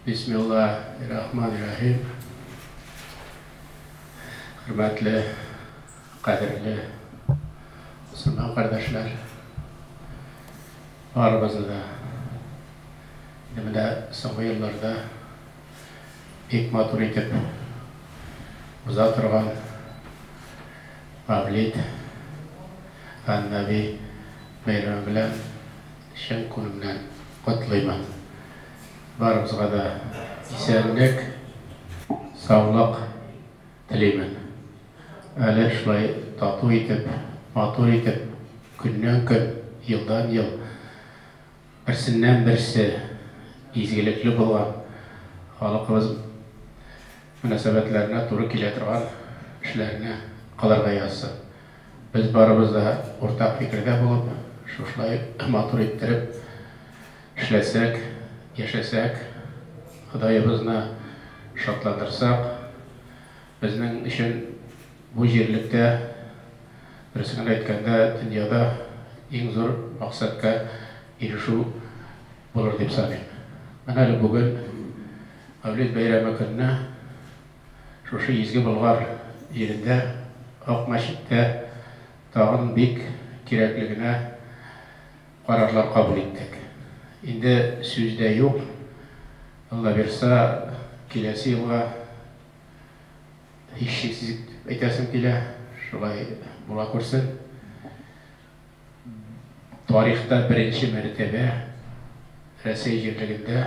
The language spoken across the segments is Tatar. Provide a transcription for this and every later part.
Бисмилла рахман рәхим. Хөрмәтле, кадерле мөселман кардәшләр, барыбызны да инде менә соңгы елларда бик матур итеп уза торган Мавлид ан-Наби бәйрәме белән Чын күңелнән котлыйм. Барыбызга да исәнлек, саулык телим. Әле шулай тату итеп, матур итеп, көннән-көн, елдан-ел берсеннән-берсе изгелекле булган халыкыбыз мөнәсәбәтләренә туры килә торган эшләрне кылырга язсын. Без барыбыз да уртак фикердә булып, шушылай матур иттереп эшләсәк, яшәсәк, Ходаебызны шатландырсак, безнең өчен бу җирлектә, дөресен генә әйткәндә, дөньяда иң зур максатка ирешү булыр дип саныйм. Менә әле бүген, Мәүлид бәйрәме көнне, Шушы изге Болгар җирендә, Ак мәчеттә тагын бик кирәкле генә карарлар кабул иттек. Инде сүз дә юк, Аллабирса, киләсе елга, һичшиксез дип әйтәсем килә, шулай була күрсен, тарихта беренче мәртәбә Рәсәй җирлегендә,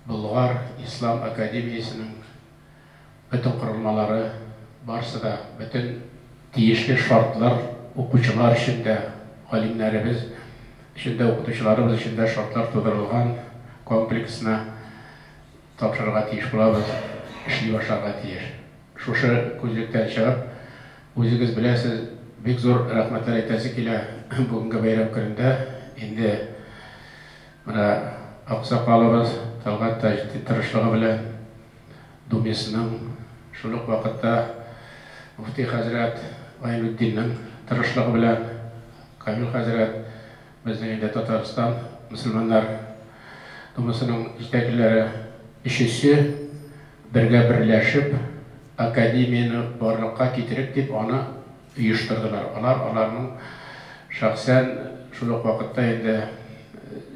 Болгар ислам академиясенең бөтен корылмалары, барысы да, бөтен тиешле шартлар укучылар өчен дә, галимнәребез өчен дә, укытучыларыбыз өчен дә шартлар тудырылган комплексно тапшырырга тиеш булабыз, эшли башларга тиеш. Шушы күзлектән чыгып, үзегез беләсез, бик зур рәхмәтләр әйтәсе килә бүгенге бәйрәм көнендә инде. Менә аксакалыбыз Тәлгать Таҗетдин тырышлыгы белән ДУМИСның, шул ук вакытта мөфти хәзрәт Гайнетдиннең тырышлыгы белән Камил хәзрәт, безнең инде Татарстан мөселманнар Думасының җитәкчеләре, өчесе бергә берләшеп, академияне барлыкка китерик дип, аны оештырдылар. Алар аларның шәхсән, шул ук вакытта инде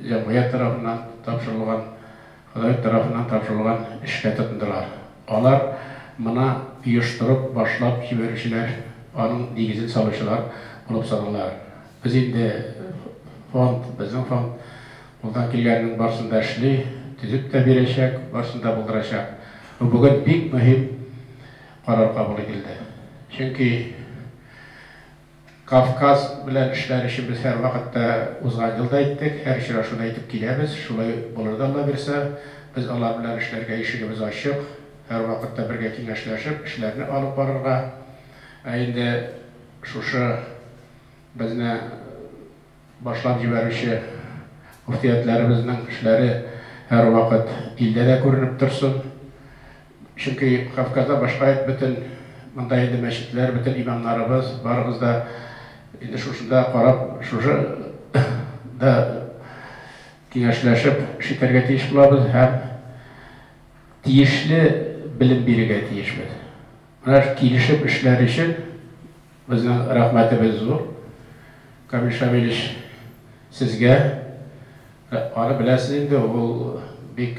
җәмгыять тарафыннан тапшырылган, Ходай тарафыннан тапшырылган эшкә тотындылар. Алар моны оештырып, башлап җибәрүчеләр, аның нигезен салучылар булып санала. Без инде фонд, безнең фонд кулдан килгәннең барысын да эшли, төзеп тә бирәчәк, барысын да булдырачак. Бу бүген бик мөһим Карар кабул ителде. Чөнки Кавказ белән эшләр өчен без һәрвакыт та, узган ел да әйттек, һәр очрашуда әйтеп киләбез, шулай булыр да Алла бирса. Без алар белән эшләргә ишегебез ачык, һәрвакыт та бергә киңәшләшеп, эшләрне алып барырга. Ә инде шушы безне башлап җибәрүче мөфтиятләребезнең эшләре һәрвакыт илдә дә күренеп торсын. Чөнки Кавказда башка ит бөтен, монда инде мәчетләр, бөтен имамнарыбыз, барыбыз да инде шушында карап, шушы да киңәшләшеп шитәргә тиеш булабыз һәм тиешле белем бирегә тиешбез. Менә килешеп эшләр өчен. Безнең рәхмәтебез зур, Камил Шамилевич, сезгә. Аны беләсез инде, ул бик,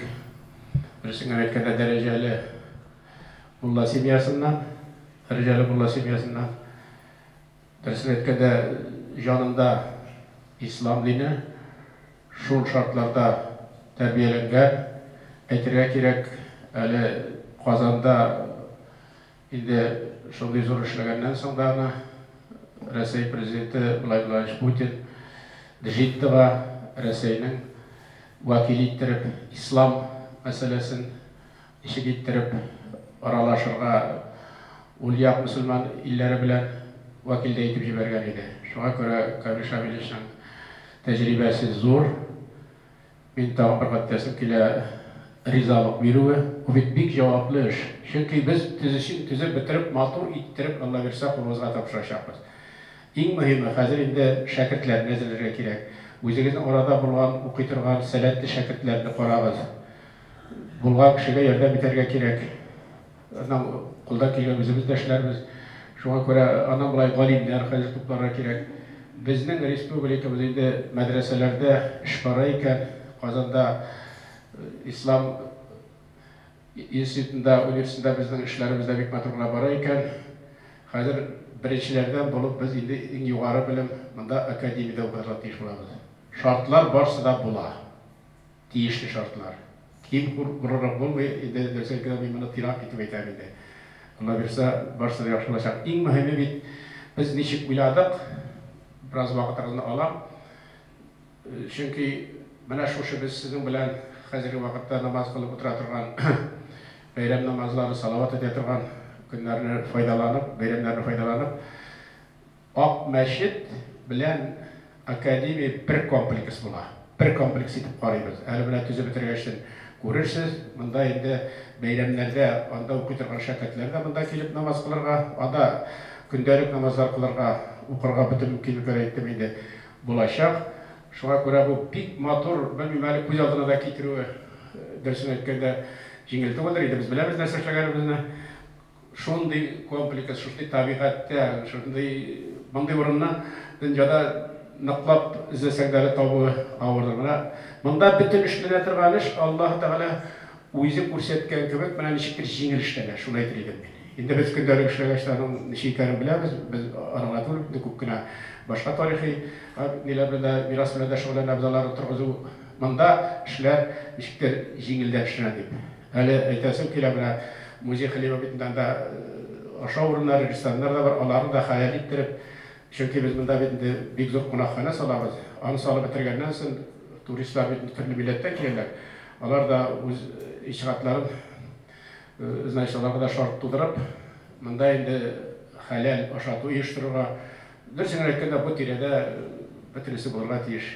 дөресен генә әйткәндә, дәрәҗәле мулла семьясыннан, дәрәҗәле мулла семьясыннан. Дөресен әйткәндә, җанында ислам дине, шул шартларда тәрбияләнгән. Әйтергә кирәк, әле Казанда Инде шундый зур эшләгәннән соң да аны Рәсәй Президенты Владимир Владимирович Путин Джиддага Рәсәйнең вәкиле иттереп, ислам мәсьәләсен ничек иттереп аралашырга, ул як мөселман илләре белән вәкил дә итеп җибәргән иде. Шуңа күрә Камил Шамилевичның тәҗрибәсе зур. Мин тагын бер гатьтәсем килә, ризалык бирүе. Бу бит бик җаваплы эш. Чөнки без төзүчене төзеп бетереп, матур иттереп, Аллабирса, кулыбызга тапшырачакбыз. Иң мөһиме, хәзер инде шәкертләрне әзерләргә кирәк. Үзегезнең арада булган, укый торган сәләтле шәкертләрне карагыз. Булган кешегә ярдәм итәргә кирәк. Аннан кулдан килгән үзебез дә эшләрбез. Шуңа күрә аннан болай галимнәр хәзер тупларга кирәк. Безнең республикабыз инде мәдрәсәләрдә эш бара икән. Казанда Ислам институтында, университетында безнең эшләребез дә бик матур гына бара икән. Хәзер беренчеләрдән булып без инде иң югары белем монда академиядә укырга тиеш булабыз. Шартлар барсы да була. Тиешле шартлар. Ким хур урырга булмый инде, дөресен әйткәндә, мин моны тирак итеп әйтәм инде. Аллабирса, барысы да яхшы булачак. Иң мөһиме бит, без ничек уйладык, бераз вакытыгызны алам, чөнки менә шушы без сезнең белән хәзерге вакытта намаз кылып утыра торган, бәйрәм намазлары, салават әйтә торган көннәрне файдаланып, бәйрәмнәрне файдаланып, Ак мәчет белән академия бер комплекс була. Бер комплекс итеп карыйбыз. Әле менә төзеп бетергәчтен күрерсез. Монда инде бәйрәмнәрдә анда укый торган шәкертләр дә монда килеп намаз кылырга, анда көндәлек намазлар кылырга, укырга бөтен мөмкинлекләр, әйттем инде, булачак. Шуңа күрә бу бик матур, белмим әле күз алдына да китерүе, дөресен әйткәндә, җиңел түгелдер. Инде без беләбез нәрсә эшләгәнебезне. Шундый комплекс, шундый табигатьтә, шундый, мондый урынны дөньяда ныклап эзләсәң дә әле табуы авырдыр. Менә монда бөтен эшләнә торган эш, Аллаһы Тәгалә үзе күрсәткән кебек, менә ничектер җиңел эшләнә, шуны әйтер идем мин. Инде без көндәлек эшләгәч тә аның ничек икәнен беләбез, без арыгына түгел, инде күп кенә башка тарихи ниләр белән дә, мирас белән дә шөгыльләнәбез, аларны торгызу. Монда эшләр ничектер җиңелдән эшләнә дип. Әле әйтәсем килә, менә музей хлебобытында анда ашау урыннары, рестораннар да бар, аларны да хәял иттереп, чөнки без монда бит инде бик зур кунакханә салабыз. Аны салып бетергәннән сон, туристлар бит инде төрле милләттән киләләр, алар да үз иҗтиһадларын, значит, аларга да шарт тудырып, монда инде хәләл ашату оештырырга, дөресен генә әйткәндә, бу тирәдә бөтенесе булырга тиеш.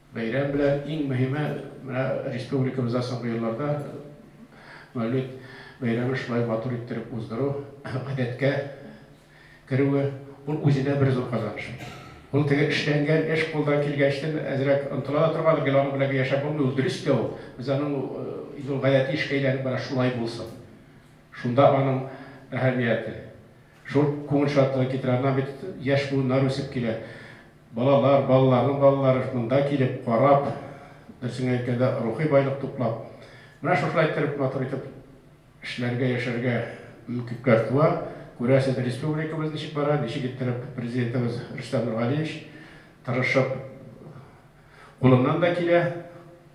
Бәйрәм белән иң мөһиме, менә республикабызда соңгы елларда Мәүлид бәйрәмен шулай матур иттереп уздыру, гадәткә керүе, ул үзенә бер зур казаныш. Ул теге эшләнгән эш кулдан килгәнчтен әзрәк онтыла да торгандыр, гел аның белән гел яшәп булмый, ул дөрес тә ул. Без аның инде ул гадәти эшкә әйләнеп бара, шулай булсын. Шунда аның әһәмияте. Шул күңел шатлыгын китерә. Аннан бит яшь буыннар үсеп килә. Балалар, балаларның балалары шунда килеп, карап, дөресен әйткәндә, рухи байлык туплап, менә шушылай иттереп, матур итеп эшләргә, яшәргә мөмкинлекләр туа. Күрәсез, республикабыз ничек бара, ничек иттереп Президентыбыз Рөстәм Нургалиевич тырышып, кулыннан да килә.